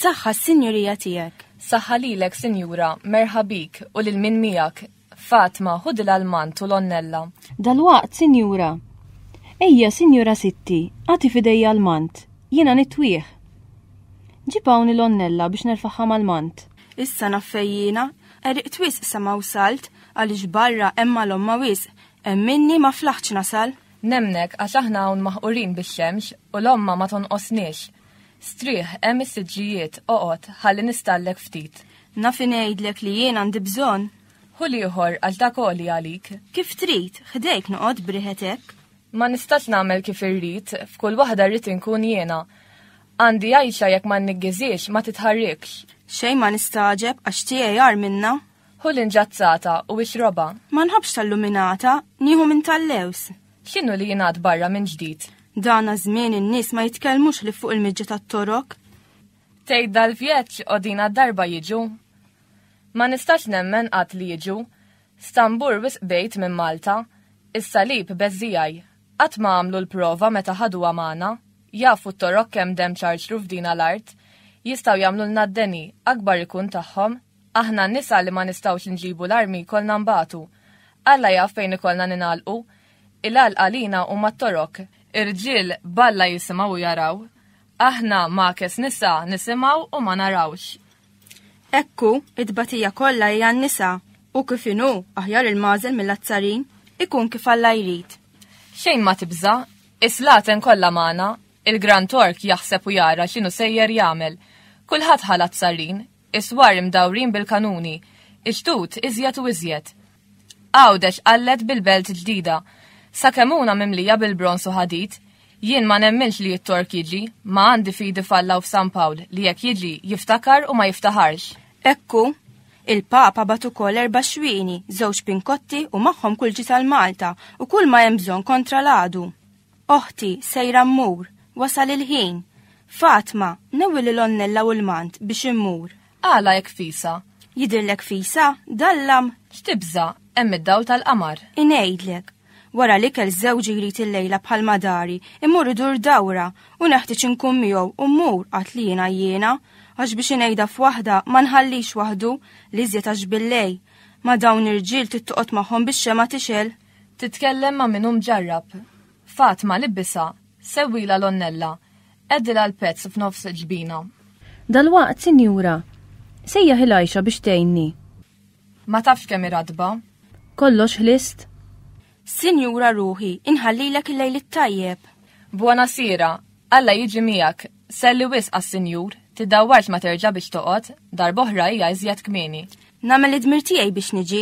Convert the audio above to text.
Saħħa s-sinjurija tiegħek. Saħħa lilek, Sinjura, merħabik u lil min miegħek, Fatma, ħudi l-almant u l-onnella. Dalwaqt, sinjura. Ejja, sinjura Sitti, agħti f'idejja almant. Jiena nitwih. Ġib hawn il-onnella biex nerfagħha mal-mant. Issa naf fejn jiena. Qeriqt wisq sa ma wsalt, għaliex barra hemm malomma wisq. Emminni ma flaħtx nasal. Nemmnek, għax aħna hawn maħqurin bix-xemx u l-omma ma tonqosniex. Strieħ, hemm is-siġġijiet, oqgħod, ħalli nistallek ftit. Naf ingħidlek li jien għandi bżonn. Ħu l-ieħor għal ta' koli għalik. Kif trid, ħdejk noqgħod briħet hekk. Ma nistax nagħmel kif irrid, f'kull waħda rrid inkun jiena. Għandi għajxa jekk ma nniggiziex, ma titħarrikx. Xejn ma nistagħġeb għax tiegħi għar minna. Ħu l-inġazzata u ixrobha. Ma nħobbx tal-luminata, nieħu minn tal-lewż. X'inhu li jingħad barra minn ġdid? Dana żmien in-nies ma jitkellmux li fuq il-miġġa tat-torok. Tgħid dal-vjeġġ qodina darba jiġu. Ma nistax nemmen qatt li jiġu. Stambur wisq bejt minn Malta. Is-salib beżżijaj. Qatt ma għamlu l-prova meta ħadu għamana. Jafu t-torok kemm demm ċarċru f'dina l-art. Jistgħu jagħmlulna d-deni, akbar ikun tagħhom. Aħna n-nisa li ma nistgħux inġibu l-armi jkollna nbatu. Alla jaf fejn ikollna ningħalqu. Il-għalq għalina huma t-Torok. Ir-rġiel b'Alla jisimgħu u jaraw. Aħna ma'kes nisa nisimgħu u ma narawx. Hekk hu, it-tbatija kollha hi għan-nisa, u kif inhu aħjar il-magħżel mill-azzarin, ikun kif Alla jrid. Xejn ma tibża', is-slaten kollha magħna, il-Gran Tork jaħseb u jara x'inhu sejjer jagħmel. Kulħadd ħa l-azzarrin, Is-swar imdawrin bil-kanuni. Iġdud iżjed u iżjed. Għawdex qallet bil-belt ġdida. Sakemuna mimlija bil-bronż u ħadid. Jien ma nemminx li t-Tork jiġi, ma għandi fidi f'Alla u f'San Pawl li jekk jiġi jiftakar u ma jiftaħarx. Hekk hu. Il-Papa bagħat ukoll erba' xwieni, żewġ pinkotti u magħhom kulġi tal-Malta u kull ma hemm bżonn kontra l-għadu. Oħti, sejra mmur, wasal il-ħin. Fatma, newi lil onnella u l-mant biex immur. Għala hekk fisa? Jidhirlek fisa, dallam? X'tibża, hemm id-dawl tal-qamar. Ingħidlek, Wara l-ikel żewġi jrid il-lejla bħal madari, imur idur dawra u neħtieġ inkun miegħu u mmur qatt li jiena jiena, għax biex inejda f'waħda ma nħallix waħdu li żjed għax billej. Ma dawn irġiel tittoqgħod magħhom bix-xema tixel. Titkellem ma' min hu mġarrab. Fatma, libbisha, sewwilha l-onnella, qegħdilha l-pezz f'nofs il-ġbina. Dalwaqt, sinjura. Sejjaħ il-għajxa biex tgħinni. Ma tafx kemm hi ratba. Kollox ħlist? Sinjura ruħi, inħallilek il-lejl it-tajjeb. Buona sera, Alla jiġi miegħek. Selli wisq għas-sinjur, tiddawwarx ma terġa' biex toqgħod, darb'oħra hija iżjed kmieni. Nagħmel id-dmir tiegħi biex niġi.